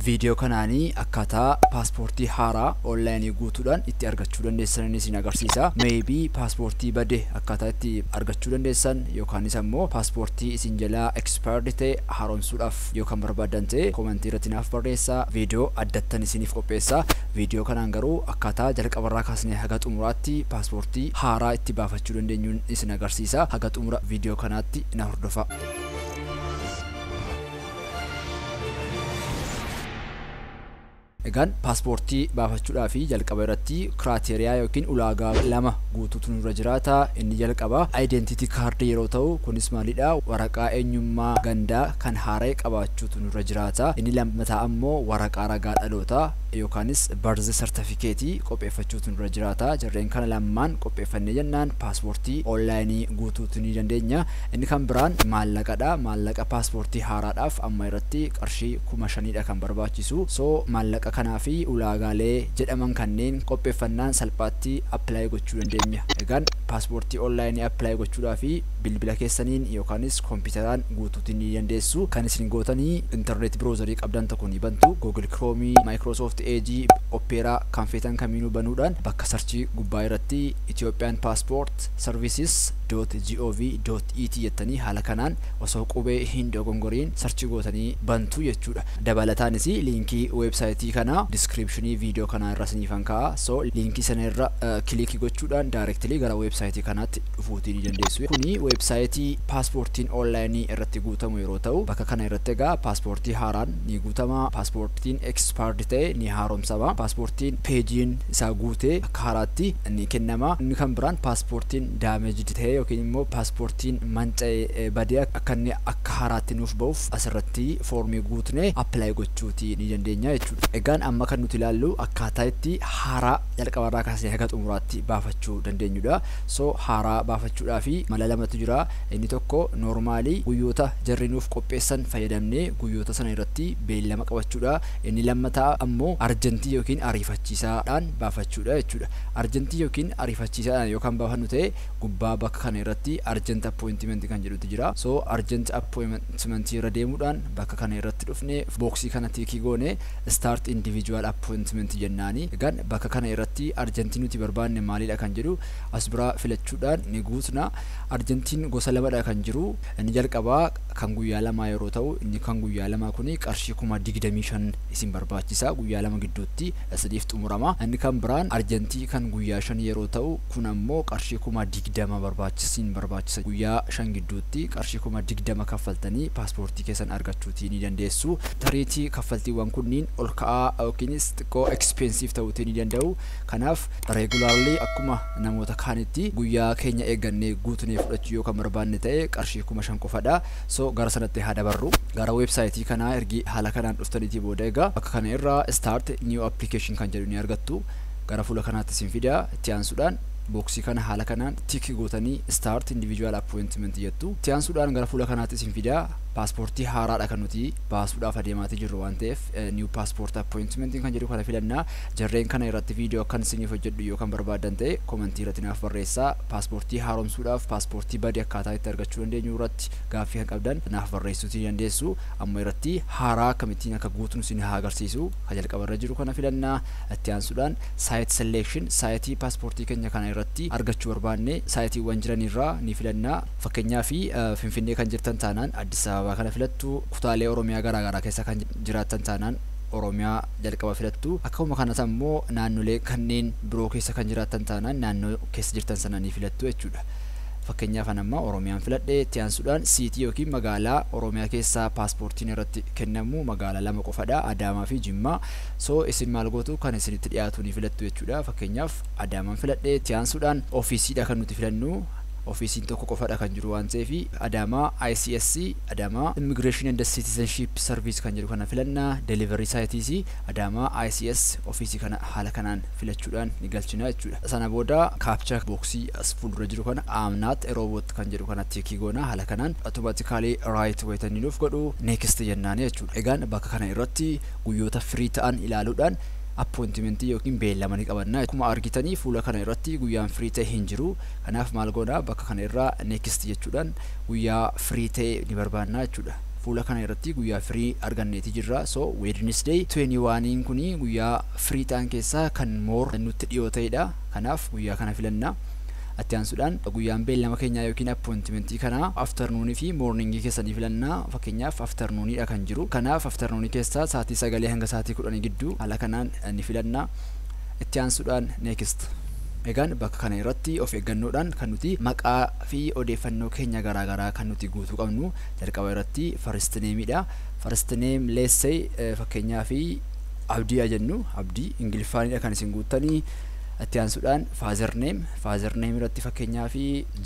Viidiyoo kanaan akkaataa paaspoortii haaraa online guutuudhaan itti argachuu dandeessan isin agarsiisa. Maybe paaspoortii bade akkaataa itti argachuu dandeessan yookaanis ammoo paaspoortii isin jalaa expired ta'e haaromsuudhaaf yoo kan barbaaddan ta'e comment irratti naaf barreessaa viidiyoo addattan isiniif qopheessa. Viidiyoo kanaan garuu akkaataa jalqabarraa kaasnee haga xumuraatti paaspoortii haaraa itti baafachuu dandeenyun isin agarsiisa. Haga xumura viidiyoo kanaatti na hordofaa. Egaan paaspoortii baafachuudhaaf jalqaba irratti kiraateriyaa yookiin ulaagaa lama guutuutu nurra jiraata. Inni jalqaba identity card yeroo ta'u kunis maalidha waraqaa eenyummaa gandaa kan haara'e qabaachuutu nurra jiraata. Inni lammataa ammoo waraqaa ragaa dhaloota yookaanis birth certificate qopheeffachuutu nurra jiraata. Jarreen kana lammaan qopheeffannee jennaan paaspoortii onlaayinii guutuutu ni dandeenya. Inni kan biraan maallaqadha. Maallaqa paaspoortii haaraadhaaf amma irratti qarshii kuma shaniidha kan barbaachisu. So maallaqa kanaa fi ulaagaalee jedhaman kanneen qopheeffannaan salphaatti apply gochuu dandeemya. Egaan paaspoortii online apply gochuudhaaf bilbila keessaniin yookaanis kompiitaraan guutuuti ni dandeessu. Kan isin gootani internet browser qabdan tokko ni bantu. Google Chrome, Microsoft Edge, Opera kan feetan kamiinuu banuudhaan bakka search gubbaa irratti Ethiopian passport services dot gov dot et jettanii haala kanaan osoo qubee hin dogongoriin search gootanii bantu jechuudha. Dabalataanis liinkii website kanaa description video kanaa irra isiniifan kaa'a. So liinkii sana irra click gochuudhaan directly gara website kanaatti dhufuutii ni dandeessu. Kuni website paaspoortiin online irratti guutamu yeroo ta'u bakka kana irratti egaa paaspoortii haaraan ni guutama, paaspoortiin expired ta'e ni haaromsama, paaspoortiin peejiin isaa guute kaaraatti ni kennama. Inni kan biraan paaspoortiin damaged ta'ee yookiin immoo paaspoortiin manca'ee badee akka inni akka haaraatti nuuf ba'uuf asirratti foormii guutnee apply gochuuti ni dandeenya jechuudha. Egaan amma kan nuti ilaallu akkaataa itti haaraa jalqabarraa kaasnee haga xumuraatti baafachuu dandeenyudha. So haaraa baafachuudhaaf mala lamatu jira. Inni tokko noormaalii guyyoota jarri nuuf qopheessan fayyadamnee guyyoota sana irratti beellama qabachuudha. Inni lammataa ammoo arjantii yookiin ariifachiisaadhaan baafachuudha jechuudha. Arjantii yookiin ariifachiisaadhaan yoo kan baafannu ta'e gubbaa bakka kana irratti arjant appointimenti kan jedhutu jira. So arjant appointimenti irra deemuudhaan bakka kana irratti dhufne booksii kana tiikii goone start individual appointment jennaani. Egaan bakka kana irratti arjantii nuti barbaanne maalidha kan jedhu as biraa filachuudhaan ni guutna. Arjantiin gosa lamadha kan jiru. Inni jalqabaa kan guyyaa lamaa yeroo ta'u inni kan guyyaa lamaa kuni qarshii kuma digdamii shan isin barbaachisa guyyaa lama gidduutti isiniif xumurama inni kan biraan arjantii kan guyyaa shan yeroo ta'u kun ammoo qarshii kuma digdama barbaachisa isin barbaachisa guyyaa shan gidduutti qarshii kuma digdama kaffaltanii paaspoortii keessan argachuutii ni dandeessu tariitii kaffaltiiwwan kunniin ol ka'aa yookiinis xiqqoo expensive ta'uutii ni danda'u Kanaaf, regularly akkuma namoota kaanitti guyyaa keenya eeggannee guutnee fudhachuu yoo kan barbaanne ta'e qarshii 5000 qofadha. So gara sanatti haa dabarru. Gara website kanaa ergi haala kanaan dhuftaniitii booda egaa bakka kana irraa start new application kan jedhu ni argattu. Gara fuula kanaatti isin fida. Itti aansuudhaan booksii kana haala kanaan tik gootanii start individual appointment jettu. Itti aansuudhaan gara fuula kanaatti isin fida. Paaspoortii haaraadha kan nuti baasuudhaaf adeemaatii jirru waan ta'eef new passport appointment kan jedhu kana filanna. Jarreen kana irratti video akkan isiniif hojjedhu yoo kan barbaaddan ta'e komentii irratti naaf barreessaa. Paaspoortii haaromsuudhaaf paaspoortii bade akkaataa itti argachuu dandeenyu irratti gaaffii kan qabdan naaf barreessuutii ni dandeessu. Amma irratti haaraa akkamittiin akka guutnu isin haa agarsiisu. Ka jalqaba irra jiru kana filanna. Itti aansuudhaan site selection saayitii paaspoortii keenya kana irratti argachuu barbaanne saayitiiwwan jiran irraa ni filanna. Fakkeenyaaf Finfinnee kan jirtan taanaan Addis Ababaa kana filattu. Kutaalee Oromiyaa garaagaraa keessa kan jiraattan taanaan. Oromiyaa jalqaba filattu. Akkuma kanas ammoo naannolee kanneen biroo keessa kan jiraattan taanaan naannoo keessa jirtan sana ni filattu jechuudha. Fakkeenyaaf an amma Oromiyaan filadhe, itti aansuudhaan siitii yookiin magaalaa Oromiyaa keessaa paaspoortiin irratti kennamu magaalaa lama qofadha, Adaamaa fi Jimmaa. So isin maal gootu? Kan isinitti dhiyaatu ni filattu jechuudha. Fakkeenyaaf Adaamaan filadhe, itti aansuudhaan ofiisiidha kan nuti filannu. Ofiisiin tokko qofadha kan jiru waan ta'eef Adaamaa ICSC Adaamaa Immigration and Citizenship Service kan jedhu kana filanna. Delivery site is Adaamaa ICS ofiisii kana haala kanaan filachuudhaan ni galchina jechuudha. Sana booda captcha box as fuuldura jiru kana I am not a robot kan jedhu kana tick goona haala kanaan automatically right wayita inni nuuf godhu next jennaani jechuudha. Egaan bakka kana irratti guyyoota free ta'an ilaaluudhaan appointment yookiin beellama ni qabanna. Akkuma argitanii fuula kana irratti guyyaan free ta'e hin jiru. Kanaaf maal goona bakka kana irraa next jechuudhaan guyyaa free ta'e ni barbaanna jechuudha. Fuula kana irratti guyyaa free arganneeti jirra. So Wednesday 21 kuni guyyaa free ta'an keessaa kan more nutti dhiyoo ta'edha. Kanaaf guyyaa kana filanna. Itti aansuudhaan guyyaan beellama keenyaa yookiin appointmentii kanaa afternoon fi morning keessa ni filanna. Fakkeenyaaf afternoon dha kan jiru. Kanaaf afternoon keessaa sa'aatii sagalee hanga sa'aatii kudhanii gidduu haala kanaan ni filanna. Itti aansuudhaan Next. Egaan bakka kana irratti of eeggannoodhaan kan nuti maqaa fi odeeffannoo keenya garaa garaa kan nuti guutuu qabnu jalqaba irratti first name dha. First name let's say fakkeenyaaf Abdii haa jennu Abdii Ingiliffaanidha kan isin guuttanii. Itti aansuudhaan father name father name irratti fakkeenyaaf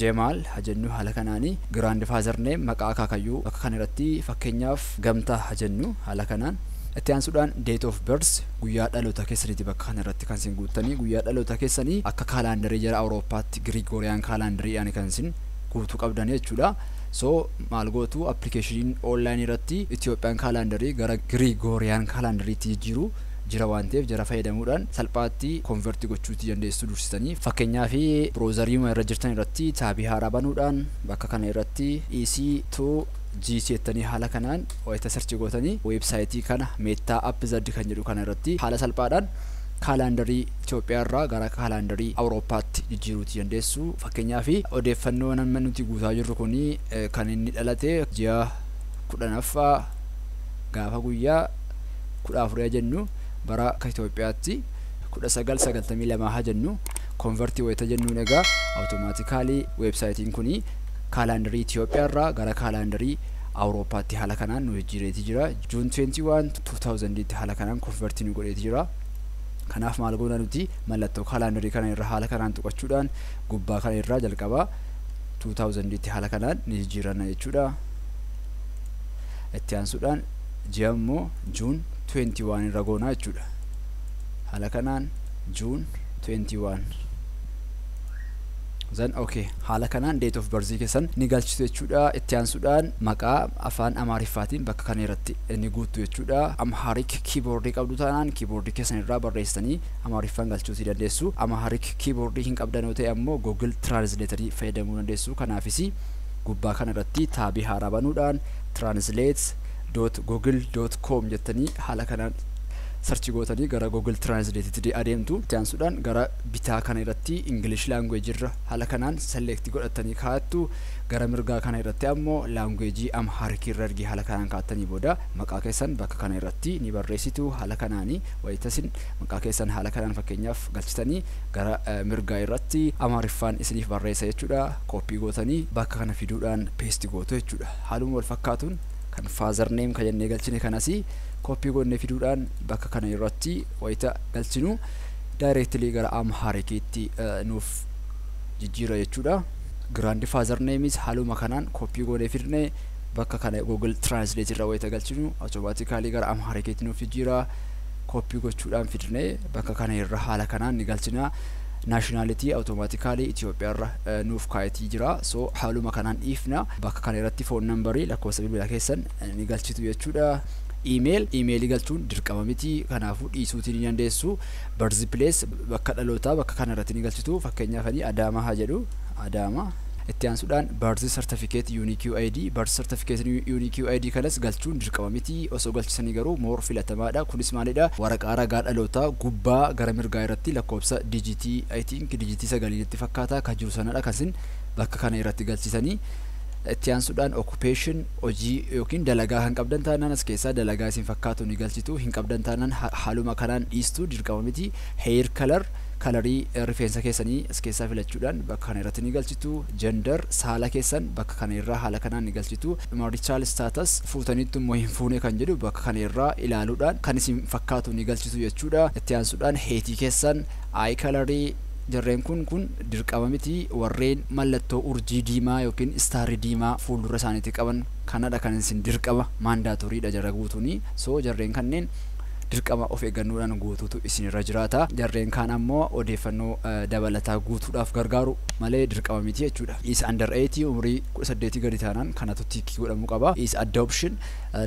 Jemaal haa jennu haala kanaani. Grand father name maqaa akaakayyuu bakka kana irratti fakkeenyaaf Gamtaa haa jennu haala kanaan. Itti aansuudhaan date of birth Guyyaa dhaloota keessaniiti bakka kana irratti kan isin guuttanii guyyaa dhaloota keessanii akka kaalaandarii jara Awurooppaatti Girigooriyaan kaalaandariidhaan kan isin guutuu qabdanii jechuudha. So maal gootu appilikeeshiniin online irratti Itiyoophiyaan kaalaandarii gara Girigooriyaan kaalaandariitti jijjiiru jira waan ta'eef jara fayyadamuudhaan salphaatti konverti gochuutti dandeessu dursitanii. Fakkeenyaaf broozariima irra jirtan irratti taabii haaraa banuudhaan bakka kana irratti EC to GC jettanii haala kanaan wayita search gootanii website kana Meta app Z kan jedhu kana irratti haala salphaadhaan kaalaandarii Itoophiyaa irraa gara kaalaandarii Awurooppaatti jijjiiruu ti dandeessu. Fakkeenyaaf odeeffannoon amma nuti guutaa jirru kun kan inni dhalate ji'a kudhanaffaa gaafa guyyaa kudha afurii jennu bara akka Itoophiyaatti kudha sagal sagaltamii lamaa haa jennu konvertii wayita jennuun egaa awutomaatikaalii weebsaayitiin kun Kaalaandarii Itiyoophiyaa irraa gara kaalaandarii Awurooppaatti haala kanaan nu jijjiireeti jira. June 21, 2000 tti haala kanaan konvertii nu godheeti jira. Kanaaf maal goona nuti mallattoo kaalaandarii kana irra haala kanaan tuqachuudhaan gubbaa kana irraa jalqabaa 2000 tti haala kanaan ni jijjiiranna jechuudha. Itti aansuudhaan ji'a immoo June 21 irra goona jechuudha. Haala kanaan June 21 Then ok haala kanaan date of birth keessan ni galchitu jechuudha itti aansuudhaan maqaa afaan amaariffaatiin bakka kana irratti ni guuttu jechuudha amharic keyboard qabdu taanaan keyboard keessan irraa barreessanii amaariffaan galchuutii dandeessu amharic keyboard hin qabdan yoo ta'e ammoo google translator fayyadamuu dandeessu kanaafis gubbaa kana irratti taabii haaraa banuudhaan translate google.com jettanii haala kanaan sarchi gootanii gara google translate itti adeemtu itti aansuudhaan gara bitaa kana irratti English language irra hala kanaan select godhattanii kaattu gara mirgaa kana irratti ammoo language Amharic irra ergi hala kanaan kaattanii booda maqaa keessan bakka kana irratti ni barreessitu hala kanaani wayitasin maqaa keessan hala kanaan fakkeenyaaf galchitanii gara mirgaa irratti Amhariffaan isiniif barreessa jechuudha copy gootanii bakka kana fiduudhaan paste gootu jechuudha haaluma wal fakkaatuun kan father name ka jennee galchine kanasi copy goonnee fiduudhaan bakka kana irratti wayita galchinu directly gara Amharikiitti nuuf jijjiira jechuudha. Grandfather name is haaluma kanaan copy goonee fidne bakka kana Google Translate irra wayita galchinu automatically gara Amharikiitti nuuf jijjiira. Copy gochuudhaan fidne bakka kana irra haala kanaan ni galchina. Nationality automatically Itoophiyaa irra nuuf kaayetii jira. So haaluma kanaan dhiifna. Bakka kana irratti phone number lakkoofsa bilbilaa keessan ni galchitu jechuudha. Email, email galchuun dirqama miti. Kanaafuu dhiisuutii ni dandeessu. Birth place, bakka dhalootaa bakka kana irratti ni galchitu. Fakkeenyaaf ani Adaamaa haa jedhu. Adaamaa. Itti aansuudhaan birth certificate unique UID, birth certificate unique UID kanas galchuun dirqama miti. Osoo galchisanii garuu more filatamaadha. Kunis maalidha? Waraqaa ragaa dhalootaa gubbaa gara mirgaa irratti lakkoofsa dijitii I think dijitii sagalii natti fakkaata kan jiru sanadha kan isin bakka kana irratti galchitanii Itti aansuudhaan occupation, hojii yookiin dalagaa kan qabdan taanaan as keessaa dalagaa isin fakkaatu ni galchitu, hin qabdan taanaan haaluma kanaan dhiistu dirqama miti. Hair color, kalarii rifeensa keessanii as keessaa filachuudhaan bakka kana irratti ni galchitu. Gender, saala keessan bakka kana irraa haala kanaan ni galchitu. Marital status, fuutaniittu immoo hin fuune kan jedhu bakka kana irraa ilaaluudhaan kan isin fakkaatu ni galchitu jechuudha. Itti aansuudhaan height keessan, eye colour, Jarreen kun kun dirqama miti warreen mallattoo urjii diimaa yookiin starri diimaa fuuldura isaaniitii qaban kanadha kan isin dirqama mandatory dha jara guutuuni so jarreen kanneen dirqama of eeggannoodhaan guutuutu isin irra jiraata jarreen kaan ammoo odeeffannoo dabalataa guutuudhaaf gargaaru malee dirqama miti jechuudha is under 8 umrii 18 gadi taanaan kanatu tiikii godhamuu qaba is adoption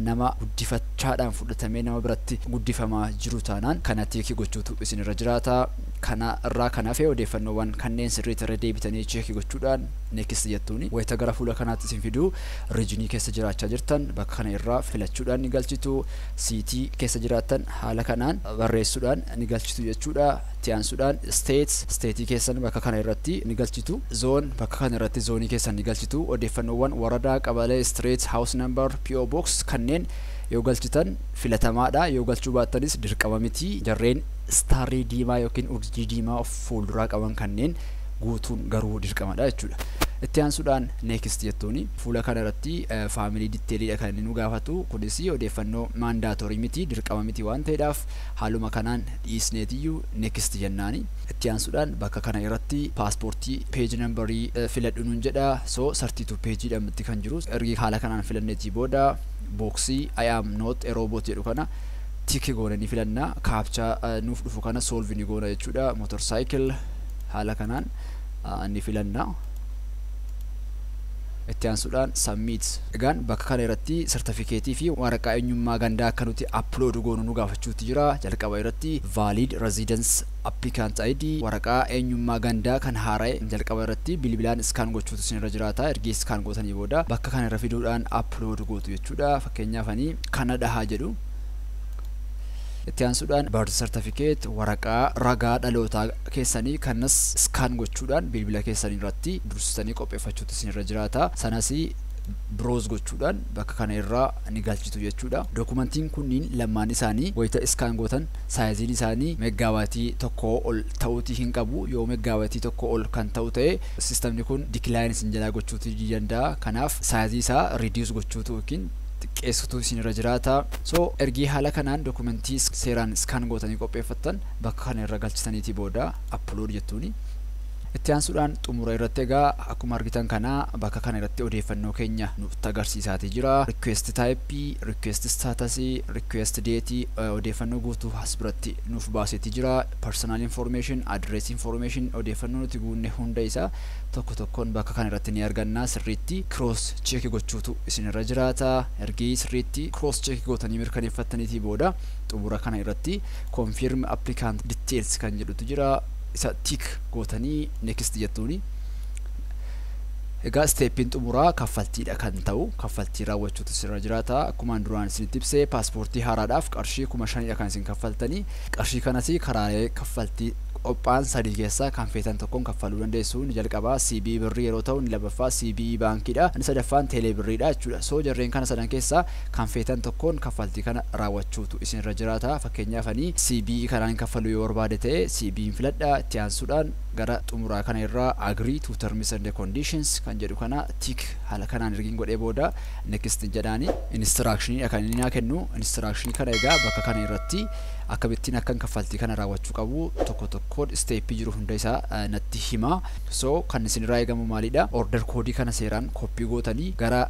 nama guddifachaadhaan fudhatamee nama biratti guddifamaa jiru taanaan kana tiikii gochuutu isin irra jiraata Kana irraa kan hafe odeeffannoowwan kanneen sirriitti irra deebitanii cheeki gochuudhaan Next jettuuni. Wayita gara fuula kanaatti isin fidu Region keessa jiraachaa jirtan bakka kana irraa filachuudhaan ni galchitu. City keessa jiraattan haala kanaan barreessuudhaan ni galchitu jechuudha. Itti aansuudhaan State, State keessan bakka kana irratti ni galchitu. Zone, bakka kana irratti zoonii keessan ni galchitu. Odeeffannoowwan Waradaa, Qabalee, Street, House Number, PO Box kanneen yoo galchitan filatamaadha. Yoo galchuu baattanis dirqama miti. Jarreen. istaarrii diimaa yookiin urjii diimaa of fuulduraa qaban kanneen guutuun garuu dirqamadha jechuudha. Itti aansuudhaan next jettuuni fuula kana irratti faamilii ditteeliidha kan inni nu gaafatu kunis odeeffannoo maandaatorii miti dirqama miti waan ta'eedhaaf haaluma kanaan dhiisneetiyyuu next jennaani. Itti aansuudhaan bakka kana irratti paaspoortii peeji nambarii filadhu nuun jedha so 32 peejiidha mitti kan jiru ergi haala kanaan filanneetii booda booksii I am not a robot jedhu kana Tick goone ni filanna. Captcha nuuf dhufu kana solve ni goona jechuudha. Motorcycle haala kanaan ni filanna. Itti aansuudhaan submit. Egaan bakka kana irratti sartifikeetii fi waraqaa eenyummaa gandaa akka nuti upload goonu nu gaafachuutti jira. Jalqaba irratti valid residence applicant ID waraqaa eenyummaa gandaa kan haara'e jalqaba irratti bilbilaan scan gochuutu isin irra jiraata. Ergii scan gootanii booda bakka kana irra fiduudhaan upload gootu jechuudha. Fakkeenyaaf ani Canada haa jedhu. Itti aansuudhaan birth certificate waraqaa ragaa dhalootaa keessanii kanas scan gochuudhaan bilbila keessanii irratti dursitanii qopheeffachuutu isinirra jiraata. Sanas browse gochuudhaan bakka kana irraa ni galchitu jechuudha. Dokumentiin kunniin lammaan isaanii wayita scan gootan saayiziin isaanii meggaabaaytii tokkoo ol ta'uutii hin qabu. Yoo meggaabaaytii tokkoo ol kan ta'u ta'e sistamni kun decline isin jalaa gochuutii ni danda'a. Kanaaf saayizii isaa reduce gochuutu yookiin xiqqeessutu isin irra jiraata. So ergii haala kanaan dokumentii seeraan scan gootanii qopheeffattan bakka kana irra galchitaniitii booda upload jettuuni. Itti aansuudhaan xumura irratti egaa akkuma argitan kana bakka kana irratti odeeffannoo keenya nutti agarsiisaatii jira. Request type, request status, request date odeeffannoo guutuu as biratti nuuf baaseetii jira. Personal information, address information odeeffannoo nuti guunne hunda isaa tokko tokkoon bakka kana irratti ni arganna sirriitti cross check gochuutu isin irra jiraata ergii sirriitti cross check gootanii mirkaneeffattaniitii booda xumura kana irratti confirm applicant details kan jedhutu jira isa tick gootanii next jettuuni Egaa isteeppiin xumuraa kaffaltiidha kan ta'u kaffaltii raawwachuutu sirra jiraata akkumaan duraan isinitti ibse paaspoortii haaraadhaaf qarshii kuma shanidha kan isin kaffaltanii qarshii kanas karaalee kaffaltii qophaan sadii keessaa kan feetan tokkon kaffaluu dandeessu inni jalqabaa cbe birrii yeroo ta'u inni lammaffaa cbe baankii dha inni sadaffaan teelee birrii dha jechuudha so jarreen kana sadan keessaa kan feetan tokkoon kaffaltii kana raawwachuutu isin irra jiraata fakkeenyaaf ani cbe kanaan kaffaluu yoo barbaade ta'e cbe filadha itti aansuudhaan gara xumuraa kana irraa agree to terms and conditions kan jedhu kana tick haala kanaan ergiin godhee booda next jedhaani instruction dha kan inni naa kennu instruction kana egaa bakka kana irratti akkamittiin akkan kaffaltii kana raawwachuu qabu tokko tokkoon isteeppii jiru hunda isaa natti hima so kan isinirraa eegamu maalidha order koodii kana seeraan koppii gootanii gara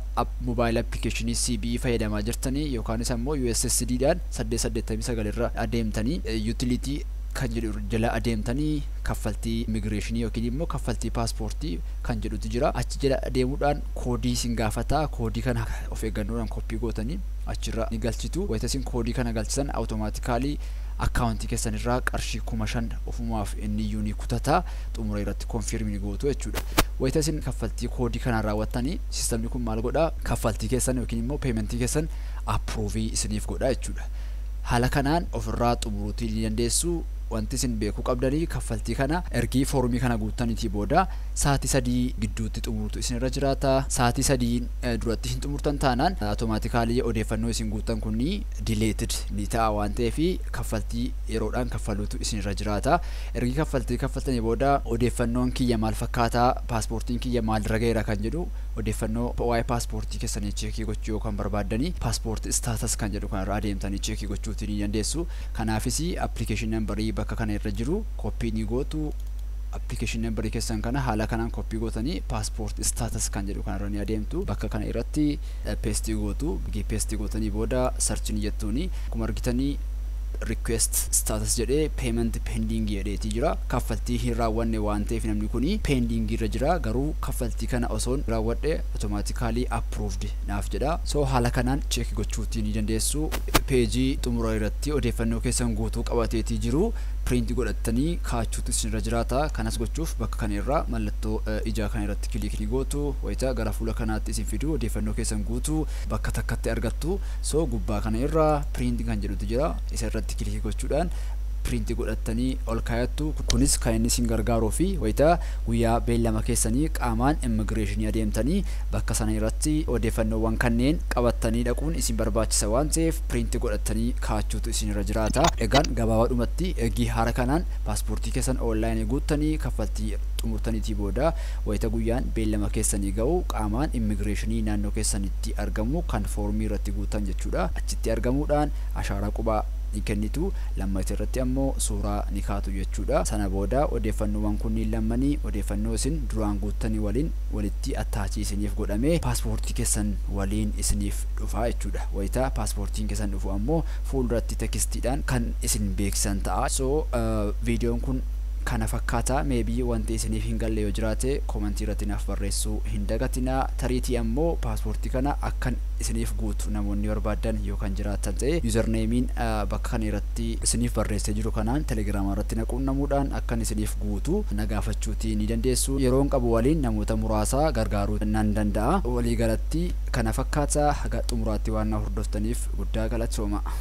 mobile application CBE fayyadamaa jirtanii yookaanis ammoo USSD dhaan 889 irra adeemtanii utility kan jedhu jala adeemtanii kaffaltii immigireeshinii yookiin immoo kaffaltii paaspoortii kan jedhutu jira achi jala adeemuudhaan koodii isin gaafata koodii kana of eeggannoodhaan koppii gootanii achirra ni galchitu. Wayita isin koodii kana galchitan automatically account keessan irraa qarshii 5000 ofumaaf inniyyuu ni kutata. Xumura irratti confirm ni gootu jechuudha. Wayita isin kaffaltii koodii kanaan raawwattanii sistamni kun maal godha? Kaffaltii keessan yookiin immoo payment keessan approve isiniif godha jechuudha. Haala kanaan ofirraa xumuruutii ni dandeessu. Wanti isin beekuu qabdanii kaffaltii kana ergii foormii kana guuttaniitii booda sa'aatii 3 gidduutti xumuruutu isinirra jiraata. Sa'aatii 3 duratti hin xumurtan taanaan automaatikaalii odeeffannoo isin guuttan kun dileetid ni ta'a waan ta'eef kaffaltii yeroodhaan kaffaluutu isin irra jiraata. Ergi kaffaltii kaffaltanii booda odeeffannoon kiyya maal fakkaataa paaspoortiin kiyya maalirra ga'eera kan jedhu odeeffannoo waa'ee paaspoortii keessanii cheekii gochuu yoo kan barbaaddanii paaspoortii istaatas kan jedhu kanarra adeemtanii cheekii gochuutii ni dandeessu. Kanaafis appilikeeshin nambarii bakka kana irra jiru koppii ni gootu. Application number keessan kana haala kanaan copy gootanii passport status kan jedhu kanarra ni adeemtu. Bakka kana irratti paste gootu. Erga paste gootanii booda search ni jettuuni. Akkuma argitanii request status jedhee payment pending jedheetii jira. Kaffaltii hin raawwanne waan ta'eef namni kuni pending irra jira. Garuu kaffaltii kana osoon raawwadhe automatically approved naaf jedha. So haala kanaan check gochuutii ni dandeessu. Page xumura irratti odeeffannoo keessan guutuu qabateetii jiru. print godhattanii kaachuutu isinirra jiraata. Kanas gochuuf bakka kana irraa mallattoo ijaa kana irratti kiliik ni gootu. Wayita gara fuula kanaatti isin fidu odeeffannoo keessan guutuu bakka takkatti argattu. So gubbaa kana irra print kan jedhutu jira. Isa irratti kiliik gochuudhaan print godhattanii ol kaayattu. Kunis kan inni isin gargaaruu fi wayita guyyaa beellama keessanii qaamaan immigireeshinii adeemtanii bakka sana irratti odeeffannoowwan kanneen qabattanii dhaquun isin barbaachisa waan ta'eef print godhattanii kaachuutu isinirra jiraata. Egaan gabaabaadhumatti eegii haara kanaan paaspoortii keessan online guuttanii kaffaltii xumurtaniitii booda wayita guyyaan beellama keessanii ga'u qaamaan immigireeshinii naannoo keessanitti argamu kan foormii irratti guuttan jechuudha achitti argamuudhaan ashaaraa qubaa ni kennitu lammayta irratti ammoo suuraa ni kaatu jechuudha sana booda odeeffannoowwan kunniin lammanii odeeffannoo isin duraan guuttanii waliin walitti attaachii isiniif godhamee paaspoortii keessan waliin isiniif dhufa jechuudha. Wayita paaspoortiin keessan dhufu ammoo fuulduratti tekistiidhaan kan isin beeksisan ta'a. So viidiyoon kun kana fakkaata. Maybe wanti isiniif hin galle yoo jiraate komantii irratti naaf barreessuu hin dagatinaa. Tariitii ammoo paaspoortii kana akkan isiniif guutu namoonni barbaaddan yoo kan jiraattan ta'e yuuzarneemiin bakka kana irratti isiniif barreessee jiru kanaan telegiraama irratti na quunnamuudhaan akkan isiniif guutu na gaafachuutii ni dandeessu. Yeroon qabu waliin namoota muraasa gargaaruu nan danda'a. Waliigalatti kana fakkaata haga xumuraatti waan na hordoftaniif guddaa galatoomaa.